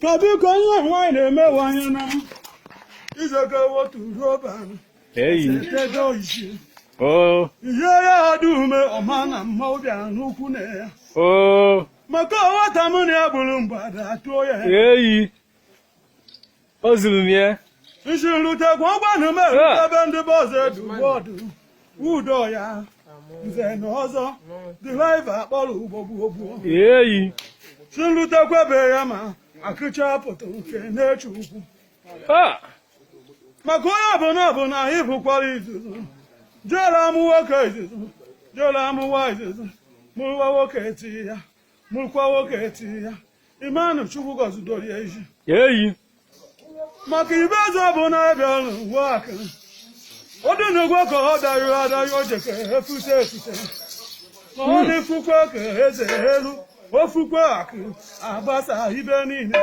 kedu ka onye nwaanyị na-emewe anya na izogo otu roba eyi ego isi o ihe ya adị ume ọma na mma obi n'ukwu na ya o maka ọghọta m na ya bụrụ mgbada atụọ ya eyi o zuru m ya isi nrute gwa ọgwanụ m erute ebe ndị be ọzọ edu bọọdụ udo ya nze na ọzọ dịlaiva a kpọrọ ugbo gbuo gbuo eyi si nrute kwebe ya ma akụcha pụta nke na-eche ukwu ha maka onye ọbụla ọbụla anyị bụkwara izuzu jere amụ nwoke izuzu jere amụwa izuzu mụrụwa nwoke eti ya mụrụkwa nwoke e tiri ya imanụ chukwu gọzidoro ya iji eyi maka ibe eze bụ na abịa ọrụ uwe aka ọ dị n'ụgwọ ka ọ dayo adayo jeke efute efute ma ọ na-efukwa ka eze elu ofukwe akụ agbasa ibe niile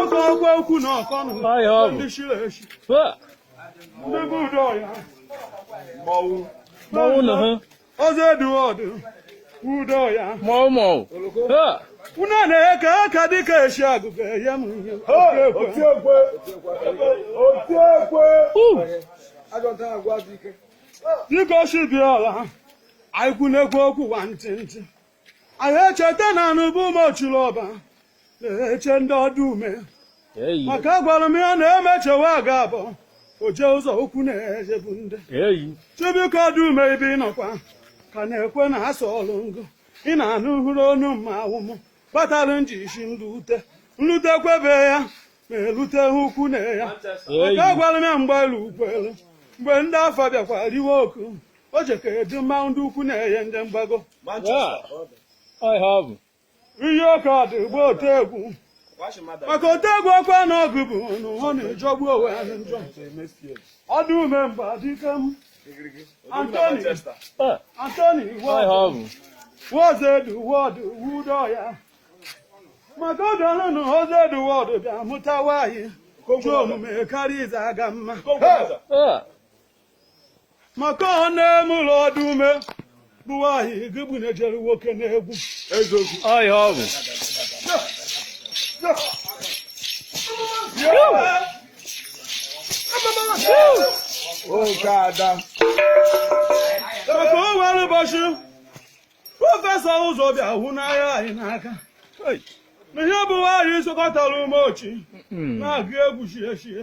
oge ọgwa ukwu na ọkọ na Ayo. ndị chiri echi Ha! ndị bụ udo ya mmanwụ na ha ọzọ eduọdụ udo ya mọmọ unu na-eke aka dịka e si agụgụ ya m ihe otiekwe otiekwe dịka o si bịa ọla anyị kwunekwu okwu ụwa ntị ntị anyị echeta na anụ bụ ume ochiri ọba na-eche ndị ọdụ ume maka a gwara m ya na emechewa a ga-abụ oje ụzọ okwu na-ejebu ndị chibụka ọdụ ume ibe ị nọkwa ka na-ekwe na asọ ọlụ ngụ ị na-anụ hụrụ onu mma awụmụ kpatara nji si nlute nlute kwebe ya ma elute ha ukwu na ya maka a gwara m ya mgbe elu ukwu elu mgbe ndị afọ bịakwa riwe oku O je ka edu mmanwụ ndị ukwu na-enye ndị mgbago. ọhịa ọ bụ Iyi ọka ọdụ gba ote egwu. Maka ote egwu ọkwa na ọgụ bụ na ụhọ na-ajọgbu onwe ha na njọ. Ọdụ ume mgba dike m. Antoni, Eh, Antoni, ọhịa Wọdụ, ọ bụ Wọdụ Edu, Wọdụ, Wudo ya. Maka ọ dọrọ na Wọdụ Edu, Wọdụ bịa mụtawa anyị. Otu omume karịa ize aga mma. Eh, maka ọ n'ime ụlọ ọdụ ume bụ nwaanyị gị bụ na-ejere nwoke n'egwu eziokwu ọhịa ọ bụ oke ada maka o nwere ụbọchị prọfesọ ụzọ bịa hụ n'ahịa anyị n'aka na ihe bụ nwaanyị sokọtara ume ochi na-agụ egwu chie chie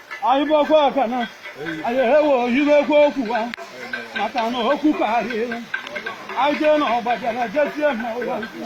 anyị bụkwa ọka na anyị ewe oyiwekwa okwu a maka na okwu karịrị anyị jee na ọgbajara jesie na ụwa ukwu